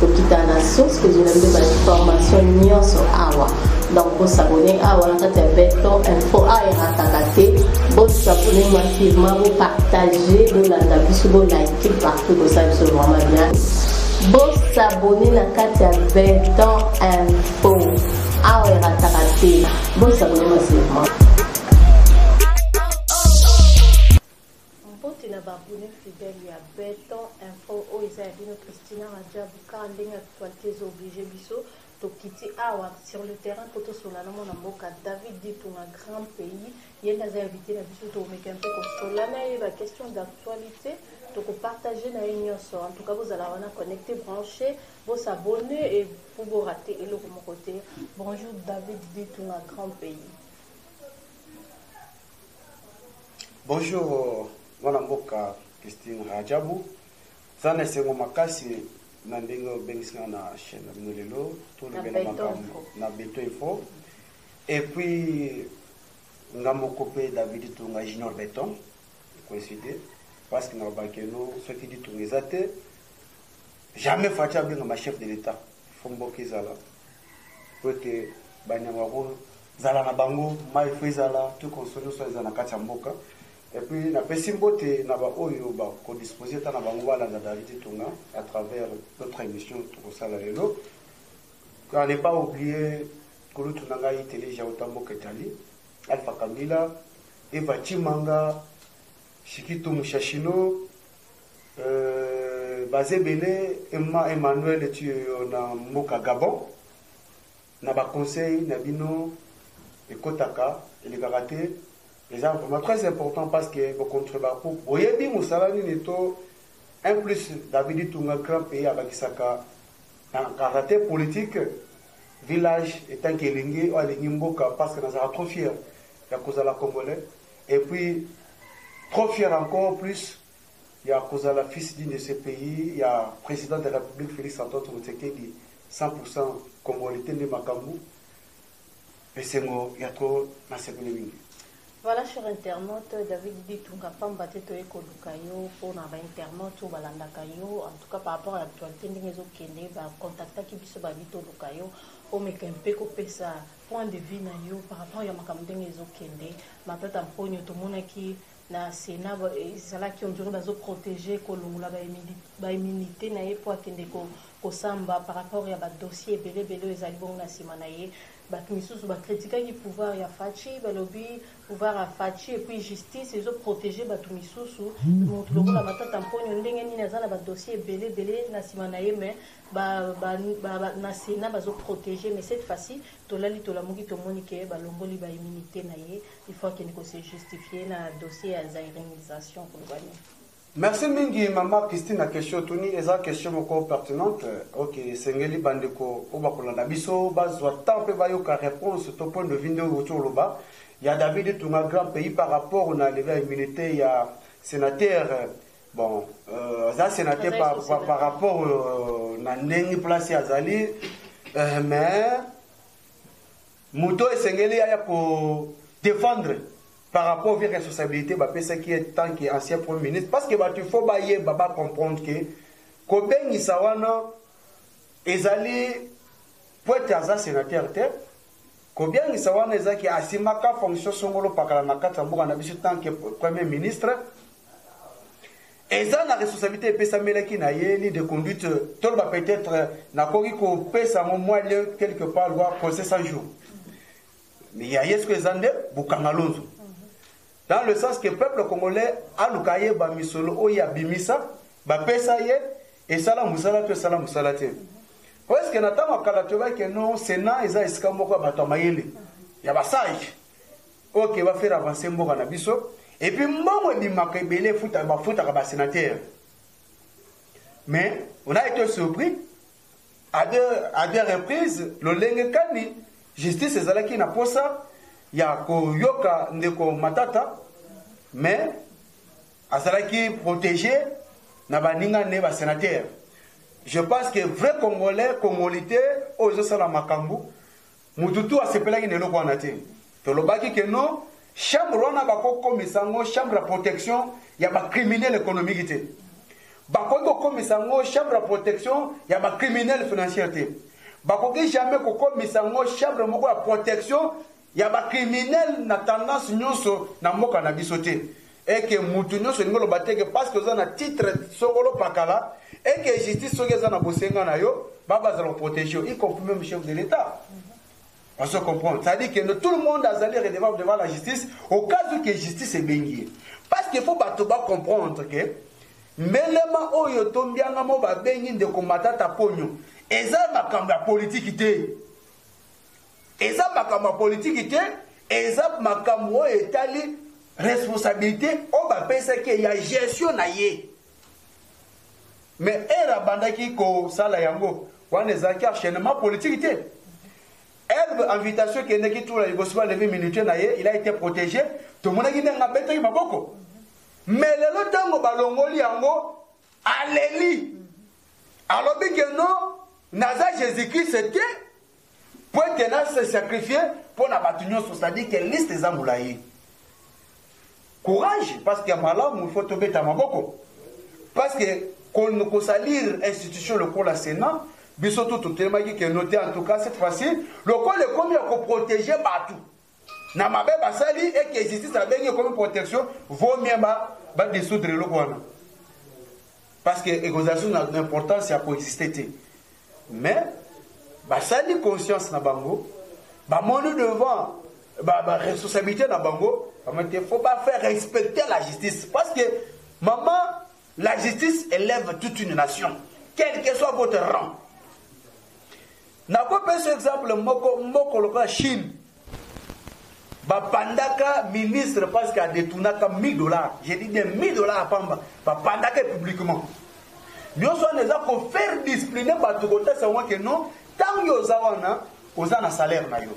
kokita na source kozwela biso bainformation nyonso awa donc bosabone awa na kati ya beton info a erataka te bosabone massivement bopartage bolanda biso bolike partout kosala biso vraiment bien bosabone na kati ya beton info awa erataka te bosabone massivement Mbote na ba abonnes fidèles ya Beton info, oyo eza ya bino Christina Radjabu car ndenge actualite ezo obliger biso tokiti awa sur le terrain po tosolola na mwana mboka David Ditunga grand pays, ye nde aza invite na biso tokomeka mpe kosolola na ye ba questions d'actualite toko partager na ye nyonso. En tout cas bozala wana connecte branche, bo s'abonner et po bo rater eloko moko te. Bonjour David Ditunga grand pays. Bonjour mwana mboka Christine Rajabu, za na esengo makasi na ndenge obengisi nga na chaîne na bino lelo tolobela makambo na Beto Info et puis nga moko mpe David Tunga Junior Beton coïncide parce que na babaki eno soki ditunga eza te jamais Fatshi abengama chef de l'État fo mboka ezala mpo ete banyama Zala na bango mayi faut ezala tout consoler soit eza na kati ya mboka et puis na pesi mbote na ba oyo ba ko disposer ta na bango ba landa David Itunga à travers notre émission toko sala lelo à ne pas oublier kulutu na ngai tele ja utambo ketali Alpha Kamila Eva Chimanga Shikito Mushashino euh, Bazebele Emma Emmanuel tu na mboka Gabon Na ba conseils na bino ekotaka elekaka te eza vraiment très important parce que bo contreba po boyebi musala nini to un plus David Itunga grand pays abakisaka na karate politique village etant que elingi oyo alingi mboka parce que nazalaka trop fier ya kozala congolais et puis trop fier encore plus ya kozala fils digne de ce pays ya president de la Republique Felix Antoine Tshisekedi 100 pour 100 congolite nde makambu esengo ya trop nasepeli mingi. Voilà cher internaute David Bitunga pamba te toye koluka yo mpo na ba internaute oyo balandaka yo en tout cas par rapport à l'actualité ndenge ezokende ba contactaki biso babi toluka yo omeka mpe kopesa point de vue na yo par rapport ya makambo ndenge ezokende matata mponyo tomonaki Na Senat ezalaki on dirait bazo proteger kolongola ba immunites na ye po akende kosamba par rapport ya ba dossiers ebele ebele oyo ezali bongo na sima na ye. Batu misusu ba critikaki pouvoir ya Fatshi balobi pouvoir ya Fatshi et puis justice ezo proteger batu misusu. Mutu lokola Matata Mponyo ndenge nini aza na ba dossiers ebele ebele na sima na ye mais na Senat bazo proteger mais cette fois-ci tolali tolamuki tomoni que balongoli ba immunites na ye. Il faut akende ko se justifier na dossier ya zairinisation koloba nini? Merci mingi maman Christine na question otuni eza question moko pertinente ok esengeli bandeko oyo bakolanda biso bazwa temps mpe bayoka réponse to point de vue nde outi oloba ya David Itunga grand pays par rapport na levée ya immunité ya sénateur bon euh, aza sénateur par, par, par rapport euh, na ndenge place azali euh, mais Moto oyo esengeli aya ko defendre par rapport vie responsabilite bapesaki ye tant que ancien premier ministre parce que bato il faut bayeba ba comprendre que kobengisa wana ezali po ete aza sénateur te kobiangisa wana ezalaki asimbaka fonction songolo pakala na kati ya mboka na biso tant que premier ministre Eza na responsabilite epesamelaki na ye, ligne de conduite, toloba peut etre nakoki kopesa yango mwa lieu quelque part loi conseil 100 jours ya ye soki eza nde bokanga lonzo dans le sens que peuple congolais aluka ayeba misolo oyo abimisa bapesa ye esala mosala to esala mosala te presque na ntango ya kala toyebaki no senat eza esika moko ya bato ya mayele ya basage pour que ba faire avancer mboka na biso et puis mbongo ebimaka ebele efuta bafutaka ba sénateur mais on a été surpris à deux, à deux reprises lolenge kani justice ezalaki na posa ya koyoka ndeko matata mais azalaki protégé na baninga ne basénateur je pense que vrai congolais congolité oyo ezosala makambo Mutu tu asepelaki na eloko wana te. Tolobaki que non, chambre wana bako komisa ngo chambre ya protection ya ba criminel economique te. Bakoki kokomisa ngo chambre ya protection ya ba criminel financière te. Bakoki jamais kokomisa ngo chambre moko ya protection ya ba criminel na tendance nyonso na mboka na biso te. et que mutu nionso olingi oloba te que parce que oza na titre sokolo pakala et que justice soki eza na bosenga na yo baba azala koprotege yo y compris même chef de l'état parce que comprendre c'est à dire que tout le monde azali redevable devant la justice au cas où que justice ebengi ye parce que faut bato ba comprendre que mbelema oyo to mbianga mo babengi ndeko matata ponyo eza makambo ya politiki te Eza makambo ya politiki te, eza makambo oyo etali responsabilite oyo bapesaki ye ya gestion na ye. Mais ere abandaki kosala yango wana ezalaki enchaînement politiki te. Herbe invitation ekendeki tula liboso balevi minute na ye, il a été protégé, tomonaki ndenge abetaki maboko. Mais lelo ntango balongoli yango, aleli, alobi ke non, naza Jésus-Christ te, Pwete elle a se sacrifier mpo na bato nyonso, c'est-à-dire que liste eza molayi. Courage, parce que ya malamu il faut tobeta maboko. Parce que kosalir institution lokola Sénat, biso tout totelemaki que note en tout cas cette fois-ci, lokola ekomi ya koproteger bato. na mabe basali et que justice abengi ekomi protection vaut mieux ba ba dissoudre eloko wana parce que ekozala susu na importance ya koexiste te mais basali conscience na bango bamoni devant baresponsabilité na bango bamoni te faut bafaire respecter la justice parce que mama La justice elève toute une nation, quel que soit votre rang. nakopesa exemple moko moko lokola chine bapandaka ministre parce que adetournaka 1000 dollars je dis bien 1000 dollars apamba bapandaka publiquement nyonso wana eza kofaire discipline bato kotasa yango ke non ntango oza wana Oza na salaire na yo.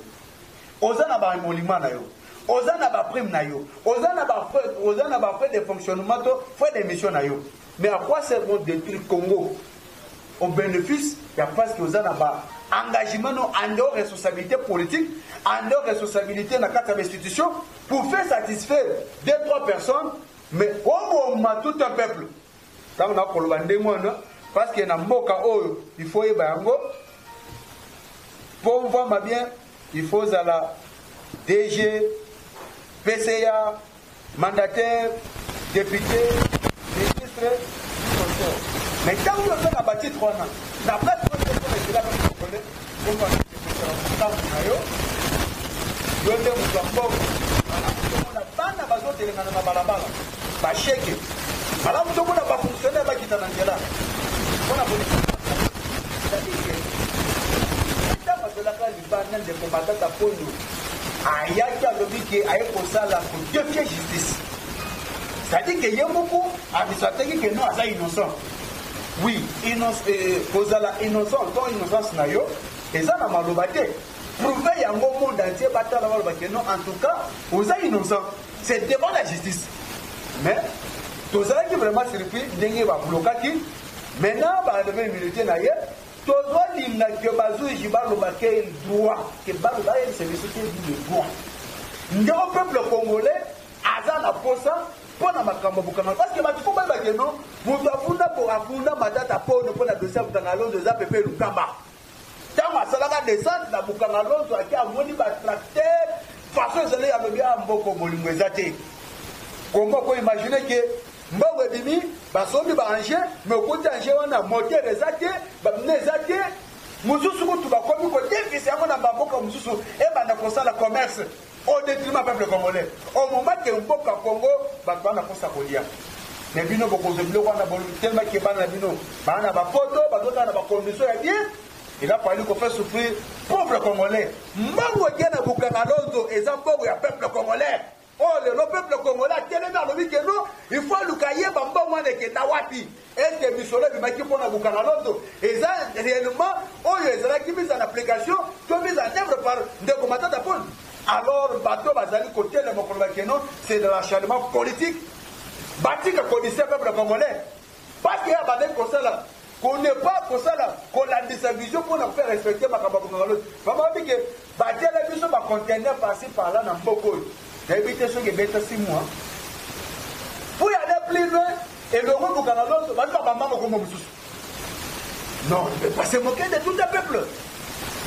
Oza na ba emoluments na yo. Oza na ba primes na yo. Oza na ba frais, oza na ba frais de fonctionnement to frais de mission na yo. Mais à quoi sert donc détruire Congo au bénéfice ya parce que oza na ba engagement no en dehors responsabilité politique, en dehors responsabilité na kati ya ba institutions pour faire satisfaire deux trois personnes mais oboma tout un peuple. Tango na koloba ndenge wana parce que na mboka oyo il faut yeba yango pour voir ma bien il faut zala DG PCA mandataire député ministre mais ntango oyo oza na batitre wana na place oyo ezela Bongo akende kosala motambo na yo, yo nde moto ya mbongo. Malamu tomona bana bazotelengana na balabala, basheke. Malamu tomona bafonksionere bakita na nzela mpo na kolekisa ntango azolaka libanda ndeko matata mpondo ayaki alobi ke aye kosala kodefie justice c'est-à-dire que ye moko abiso ateki ke no aza innocent Oui, innoc eh, kozala innocent to innocence na yo eza na maloba te. Prouver yango monde entier batala baloba que non en tout cas oza innocent. C'est devant la justice. Mais tozalaki vraiment surpris ndenge bablokaki maintenant baadome milite na ye tozolinga ke bazuji baloba ke droit ke baloba yebisa biso te le droit ndeko peuple congolais aza na posa pona makambo ya bokanga parce que bato fo bayeba ke no moto afunda po afunda matata pono mpo na dosie ya bokanga lonzo eza pepe lukamba ntango asalaka descente na bokanga lonzo ake amoni batracteur façon ezali alobi a ah, mboko bolingo eza te kongo ko imagine ke mbongo ebimi basombi baange me okuti ange wana motere eza te bamina eza te mosusu kutu bakomi kodefisa yango na bamboka mosusu ebanda kosala commerce au detriment peuple congolais au moment que mboka Congo bato bana kosa kolia mais bino bokozwa biloko wana tellement ke bana na bino baa na bapoto bazotala na bacondition ya bien il a fallu kofaire souffrir pauvre congolais mbangu etie na bukanga lonzo eza mbongo ya peuple congolais oyo oh, lelo peuple congolais atelemi alobi ke no il faut aluka yeba mbongo wana ekenda wapi Est-ce que misolo ebimaki mpo na kokanga loto eza réellement oyo ezalaki mise en application to mise en œuvre par ndeko Matata Paul? Alors bato bazali kotelema mokolo bakeno c'est de l'acharnement politique batika kodise peuple congolais parce que abandaki kosala konepa kosala kolandisa vision mpo na kofe respecte makambo ya kokanga loto bamabi ke Batiela biso ba container par ci par là na mboka oyo. Nayebi te soki ebeta si mwa. Pour aller plus loin, elongo bukana loso bato babamba mokombo mosusu. Non, ne pas se moquer de tout un peuple.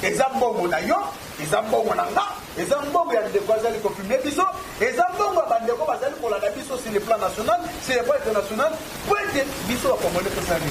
eza mbongo na yo eza mbongo na nga eza mbongo ya ndeko azali kofilme biso eza mbongo ya bandeko bazali kolanda biso sur le plan national sur le plan international po ete biso bakongole tosali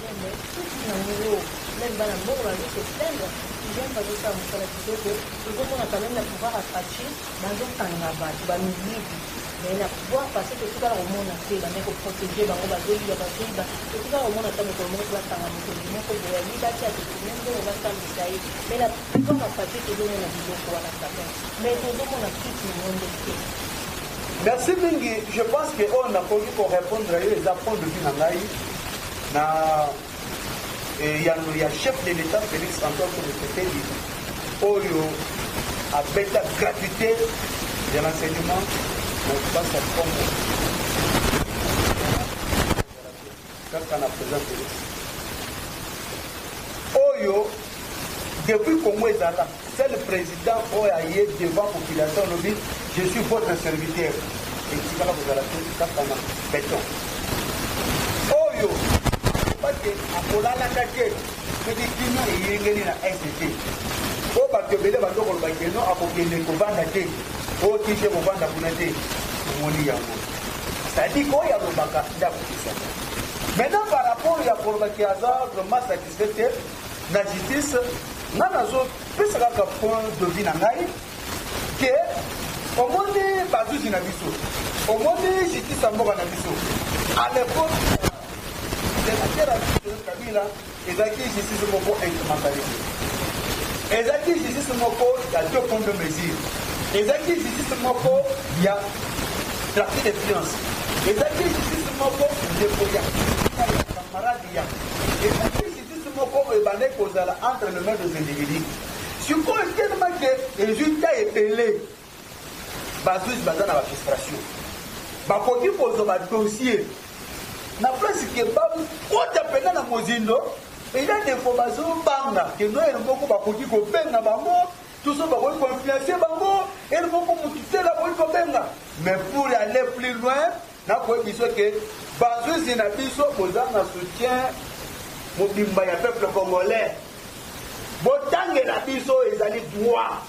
Meme suki na ngo meme bana mboka bazo se plaindre hygiène bazosala mosala kitoko tozomona quand meme na pouvoir ya faci bazokanga bato bamiyibi mais na pouvoir parce que totikala komona te bande koprotege bango bazoyiba bazoyiba totikala komona ata mokolo moko bakanga mokolo moko boya yibaki atokime mbongo basambisa ye mais na pouvoir ya faci tozomona biloko wana quand meme mais tozomona kiti na ngo nde te Merci mingi, je pense que oyo nakoki ko répondre yo eza point de vue na ngai na eyano ya chef de l'État Félix Antoine Tshisekedi oyo abeta gratuité ya l'enseignement na Kinshasa Congo. Kaka na president Felix oyo depuis Congo ezala seul president oyo aye devant population alobi je suis votre serviteur etikala kozala te kaka na beton oyo bate akolalaka te soki kimia eyengeli na est te oyo bato ebele bato koloba keno akokende kovanda te oyo kite kovanda kuna te omoni yango sadiki oyo alobaka ndako kisaka maintenant par rapport ya koloba ki aza vraiment satisfait te na justice nga nazopesa kaka point de vie na ngai ke omoni bazuzi na biso omoni justice ya mboka na biso à l'époque de la terre kabila Ezalaki justice moko instrumentaliste. Ezalaki justice moko ya deux points de mesure. Ezalaki justice moko ya trafic de finance. Ezalaki justice moko ndeko ya camarade ya. Ezalaki justice moko oyo ebandaki kozala entre le main des individus. sikoyo telema ke resultat ebele Ba juges baza na ba frustration. Bakoki kozwa ba dossiers na place que bakota mpenza na mozindo eza defo bazobanga ke noyele moko bakoki kobenga bango tuso bakoki koinfluence bango ele moko motu tela bakoki kobenga mais pour aller plus loin Nakoyebi biso ke bazuzi na biso boza na soutien mobimba ya peuple congolais. Botangela biso ezali droit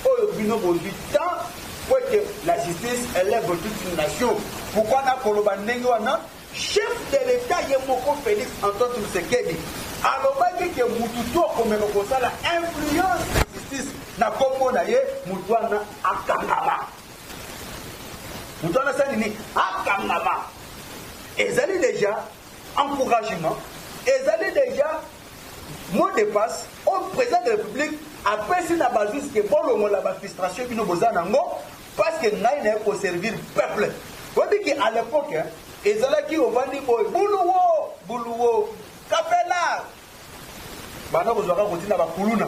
oyo bino bozwi temps po ete la justice elève toute une nation. Pourquoi nakoloba ndenge wana? Chef de l'État ye moko Félix Antoine Tshisekedi alobaki ke mutu to akomeka kosala influence na justice na kombo na ye mutu wana akangama. moto wana asali nini akangama ezali deja encouragement ezali deja mot de passe au président de république apesi na bazuzi ke bolongola bafrustration bino boza nango parce que ngai naye koservir peuple oyebi ke à l'époque ezalaki ovandi boye buluwo buluwo kapela banda kozwa kaka kotinda bakuluna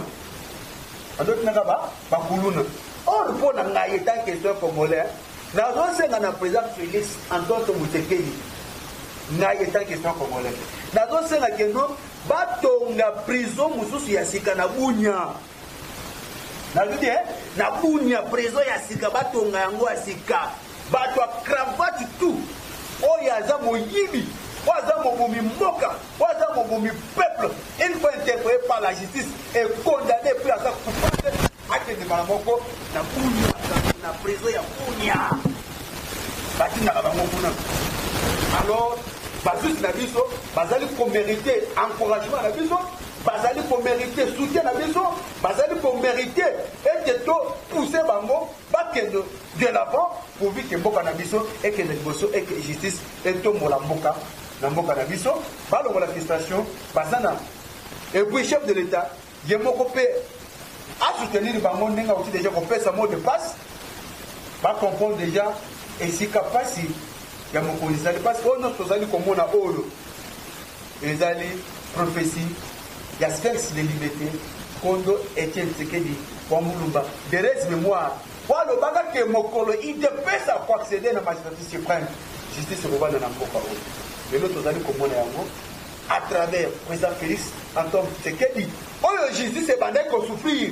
banda otindaka bakuluna or mpo na ngai etant question congolais nazosenga na président félix antonto motekeli ngai etant question congolais nazosenga keno batonga prison mosusu ya sika na bunya nazo te na bunia prezo ya sika batonga yango ya sika bato ya cravate tout oyo aza moyibi oyo aza mobomi mboka oyo aza mobomi peuple une fois interpellé par la justice et condamné puis aza coupable akende mbala moko na bunia na prezo ya bunia batindaka bango kuna alors bazuzi na biso bazali komerite encouragement na biso bazali ko merite soutien na biso bazali ko merite ete to pousser bango bakende de l'avant pourvu que mboka na biso ekende liboso et que justice etombola mboka na mboka na biso balongola frustration baza na et puis chef de l'état ye moko mpe asoutenir bango ndenge auti deja kopesa mot de passe bacomprendre deja esika mpasi ya mokonzi ezali mpasi oyo nyonso tozali komona oyo Ezali prophetie ya Sphinx de Limete, Kondo Etienne Tshisekedi wa Mulumba, de res memoire, po alobaka que mokolo udps ako acceder na magistrature supreme, justice ekovanda na mboka oyo. Lelo tozali komona yango à travers president Felix Antoine Tshisekedi oyo justice ebandaki ko souffrir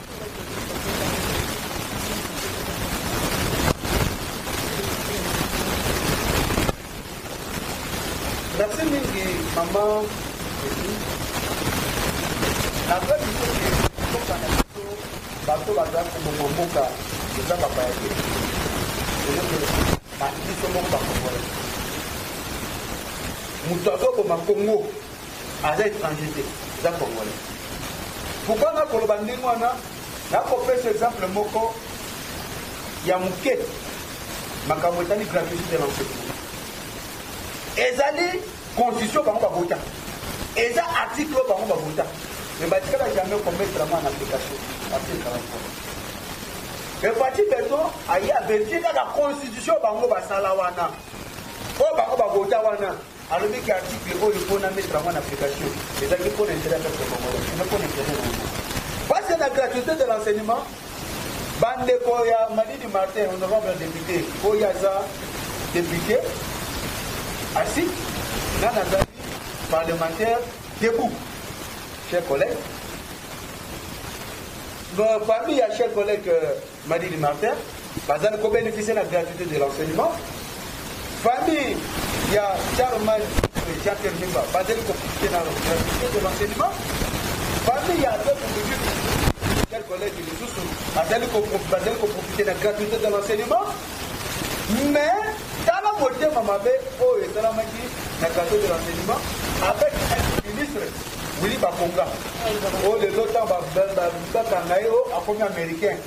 Merci mingi maman naza biso ke mboka na biso bato baza koboma mboka eza bapaya te biso moko bakongole moto azoboma kongo aza étranger te aza congolais pourkoi nakoloba ndenge wana nakopesa exemple moko ya moke makambo etali gratuité de l'enseignement ezali constitution bango babota eza article oyo bango babota me batikala jamais komettre yango en application batikala epati beto aye averifie kaka constitution bango basala wana oyo bango babota wana alobi ke article oyo mpo na mettre yango na application ezalaki mpo na interet ya peuple congolais eza mpo na interet na yango pasi na gratuité de l'enseignement bandeko ya madidi martin honorable député oyo aza député asi nga nazali parlementaire debout chers collègues parmi ya chers collègues euh, Madidi Martin bazali ko beneficier na gratuité de l'enseignement famille ya Charlemagne Jean Pierre Bemba bazali ko profiter na gratuité de l'enseignement famille ya Adolphe Mujuki tel collègue lisusu bazali ko bazali ko profiter na gratuité de l'enseignement mais tala motema mabe oyo esalamaki na gratuité de l'enseignement avec un ministre Willy Bakonga oyo lelo ntango bakanga ye oyo akomi américain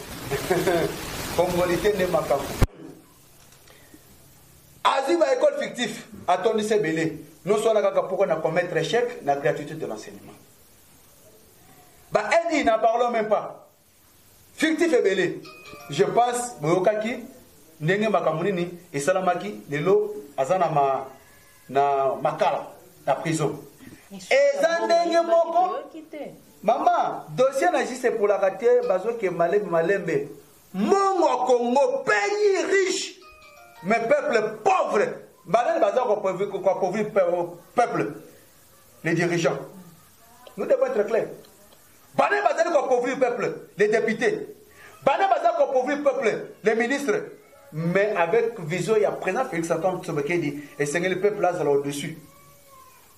congolite nde makambo azwi ba école fictif atondisi ebele nyonso wana kaka mpoka na commettre échec na gratuité de l'enseignement ba eni na parlons même pas Fictif ebele je pense boyokaki ndenge makambo nini esalamaki lelo aza na ma na makala na prison eza ndenge moko mama dossier na jise epolaka te bazoke malembe malembe mongo congo pays riche mais peuple pauvre banani baza koapauvrir peuple les dirigeants nous devons être clair bana bazali koappauvrir peuple les députés bana bazali koappauvrir peuple les ministres mais avec vision ya président félix antoine tsobekedi esengeli peuple azala au-dessus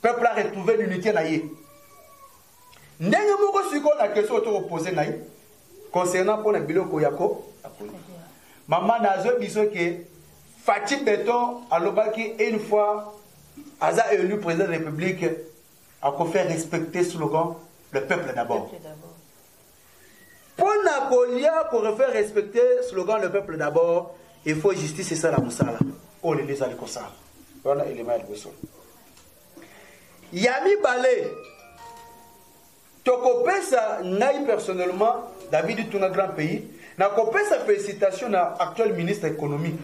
peuple aretrouve l'unité na ye ndenge moko sikoyo na question oto kopose ngai concernant mpo na biloko yako mama nazwe biso ke Fatshi beton alobaki une fois aza elu president de republique ako faire respecter slogan le peuple d'abord pona kolia ko refaire respecter slogan le peuple d'abord il faut justice esala mosala oyo lelo ezali kosala wana elema ya liboso ya mibale Toko pesa ngai personnellement David Itunga grand pays na ko pesa felicitation na actuel ministre économique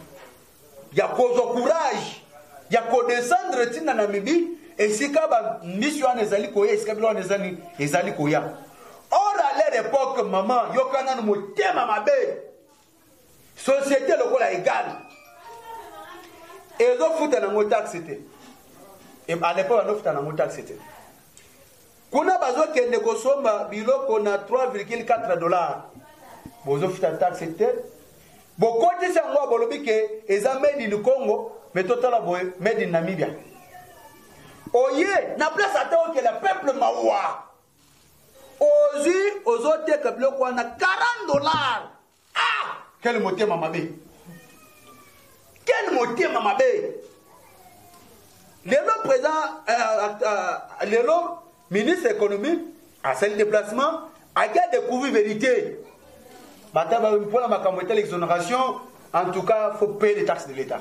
ya kozwa courage ya ko descendre tina na mibi esika ba mbisi wana ezali koya esika bilo wana ezali ezali koya or à leur époque maman yoka nanu motema mabe société lokola egale ezofuta nango taxe te à l'époque bazofuta nango taxe te kuna bazokende kosomba biloko na 3,4 dollar bozofuta taxe te bokotisi yango bolobi ke eza made in congo me totala boye made in namibia oye na place ata okela peuple mawa ozwi ozoteka biloko wana 40 dollars ah quel motema mabe quel motema mabe lelo président euh, euh, lelo ministre économie asali déplacement ake adécouvrir vérité bata mpona makambo etali exonération en tout cas faut payer les taxes de l'état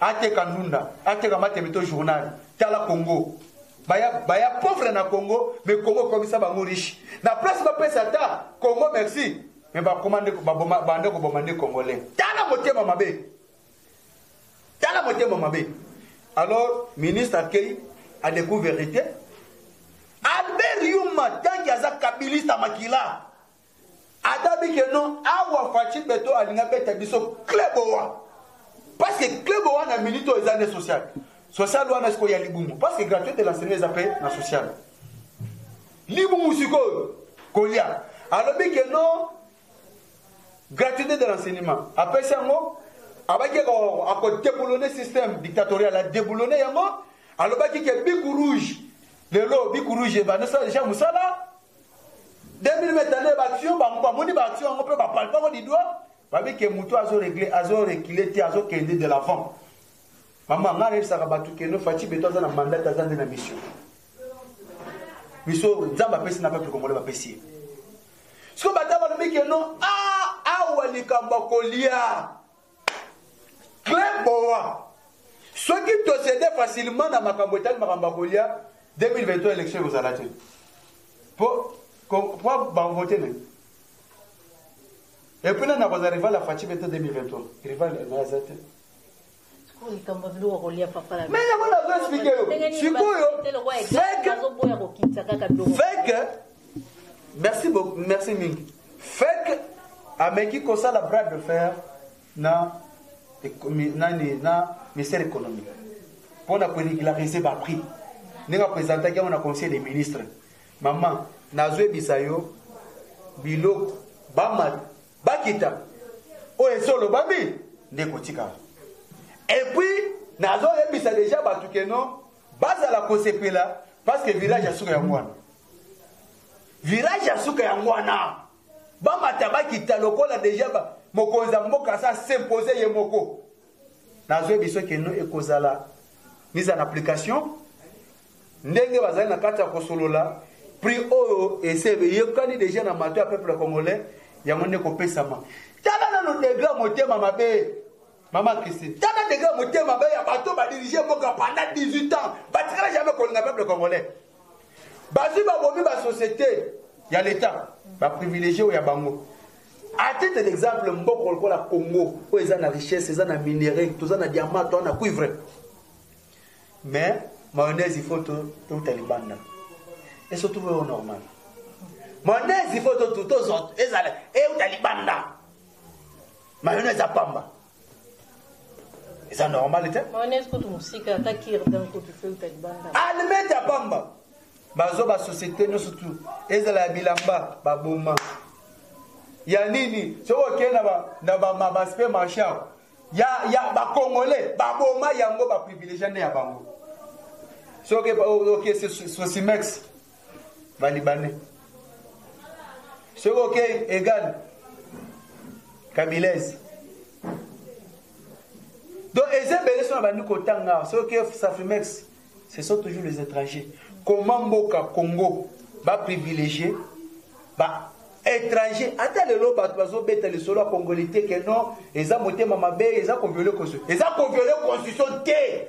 ateka ndunda ateka mateme to journal tala congo baya, baya pauvre na congo me congo ekomisa bango riche na place bapesa ata congo merci me bakoma nde bande koboma nde congolais tala motema mabe tala motema mabe alors ministre akei adeku verité albert yuma tanki aza kabilista makila adabi ke non awa faci beto alingi abeta biso club owa parce que club owa na minute oyo eza nde social social wana sikoyo ya libumu parce que gratuite de l'enseignement eza mpe na social libumu sikoyo kolia alobi ke non gratuité de l'enseignement apesi yango abaki akodeboulone système dictatorial adeboulone yango alobaki ke biku rouge lelo biku rouge ebandisa deja mosala 2022 batu yo bango bamoni batu yango mpe bapalpako didwa babi ke motu azo regle azo rekile te azokende de l'avant mama ngai nayebisaka bato keno faci beto aza na mandat aza nde na mission biso nzambe apesi na peuple congolais bapesi ye siko bata balobi keno a ah, awa likambo akolia Claire Boa, soki tosede facilement na makambo etali makambo ya kolia 2023 election ekozala te po po banvote ne epuis nani akozala rival ya faci bete 2023 rival naye aza te likambo ya biloko kolia papa na mais yango nazo explike yo sikoyo feke Merci beaucoup, merci mingi. Fake ameki kosala bras de fer na nani na ministère économique mpo na koregulariser ba prix ndenge apresentaki yango na conseil des ministres mama nazoyebisa yo biloko bamata bakita oyo esi olobami nde kotikala epuis nazoyebisa deja bato keno bazala kosepela parce que village ya suka yango wana virage ya suka yango wana bamata bakita lokola deja mokonzi ya mboka asa s'impose ye moko nazwi biso keno ekozala mise en application ndenge bazali na kati ya kosolola prix oyo ese eyokani deja na mato ya peuple congolais yango nde kopesama tala nano degre ya motema mabe mama christine tala degre ya motema mabe ya bato badirige mboka pendant 18 ans batikala jamai kolinga peuple congolais bazwi babomi ba société ya leta baprivilégie oyo ya bango à titre d'exemple mboko lokola congo oyo eza na richesse eza na minerai toza na diamant toza na cuivre mais mayonnaise il faut touta libanda et surtout oyo normal mayonnaise il faut totuta ezala euta libanda mayonnaise apamba eza normal te mayonnaise kutu mosika ata kirdan kutu feuta libanda almet ya pamba bazo ba société nyonso tu ezala ya bilamba baboma ya nini soki okei na bamabaspre marchand ya, ya bacongolais baboma yango baprivilegia nde ya bango soki okei sosimex ba libanais soki okei egal kabilese donc eza ebele so na bandi kotanga soki okei safrimex ce sont toujours les étrangers comment mboka congo baprivilégie ba étranger ata lelo bato bazobeta lisolo ya congolais te ke non eza motema mabe eza koviole constitution eza koviole constitution te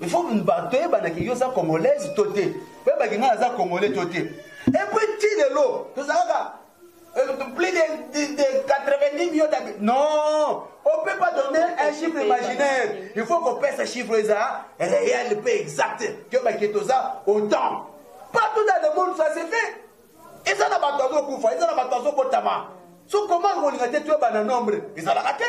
il faut bato toyebana ke yo oza congolaise to te oyeba ke ngai aza congolais to te epuis ti lelo tozalaka euh, plus de, de 90 millions d'habitants non on peut pas donner un chiffre imaginaire il faut kopesa chiffre eza réel mpe exact toyeba ke toza autant partout dans le monde ça se fait eza na bato azokufa eza na bato azobotama so koma kolinga te toyebana nombre ezalaka te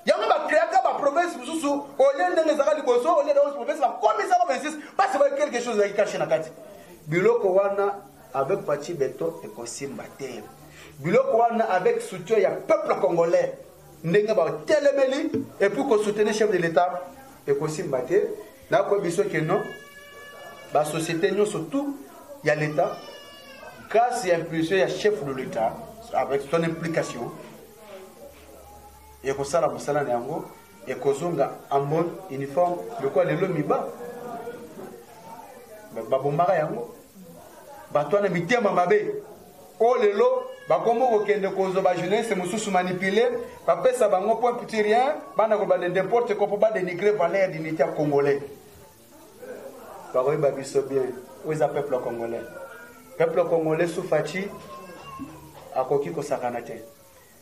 yango ba créaka ba province mosusu olie ndenge ezalaka liboso olie daos province bakomisa ko 26 parce que quelque chose ezalaki cache na kati biloko wana avec pachi beton ekosimba te biloko wana avec soutien ya peuple congolais ndenge batelemeli epuis kosoutenir chef de l'état ekosimba te nakoyebi biso ke non basociété nyonso tout ya l'état grâce ya impulsion ya chef de l'état avec son implication ekosala mosala na yango ekozonga ambon uniforme lokola lelo miba babombaka yango bato wana mitema mabe oyo lelo bakomi kokende kozwa bajeunesse mosusu manipule bapesa bango point petit rien bana kobanda n'importe quoi mpo badenigre valeur d'unité ya congolais bakoyeba biso bien oyo eza peuple congolais peuple congolais sufaci akoki kosakana te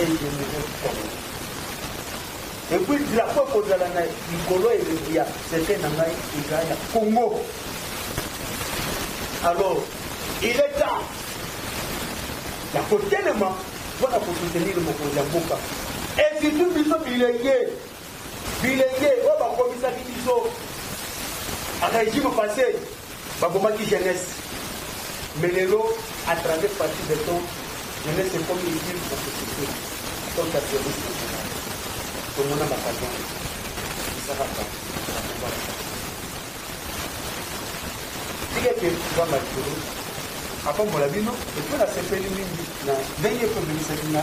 elongo kongo epuis drapo ekozala na likolo elongo ya sete na ngai eza ya kongo alors il est temps ya kotelema mpo na kosoutenir mokonzi ya mboka et surtout biso bilenge Bilenge oyo bakomisaki biso a regime passe babomaki jeunesse mais lelo a 30 parti de temps jeunesse ekomi utile na société donc ya service national tomona bakaza isakaka tikete nzamba likolo apambola bino epo nasepeli mingi na ndenge ekomelisaki nga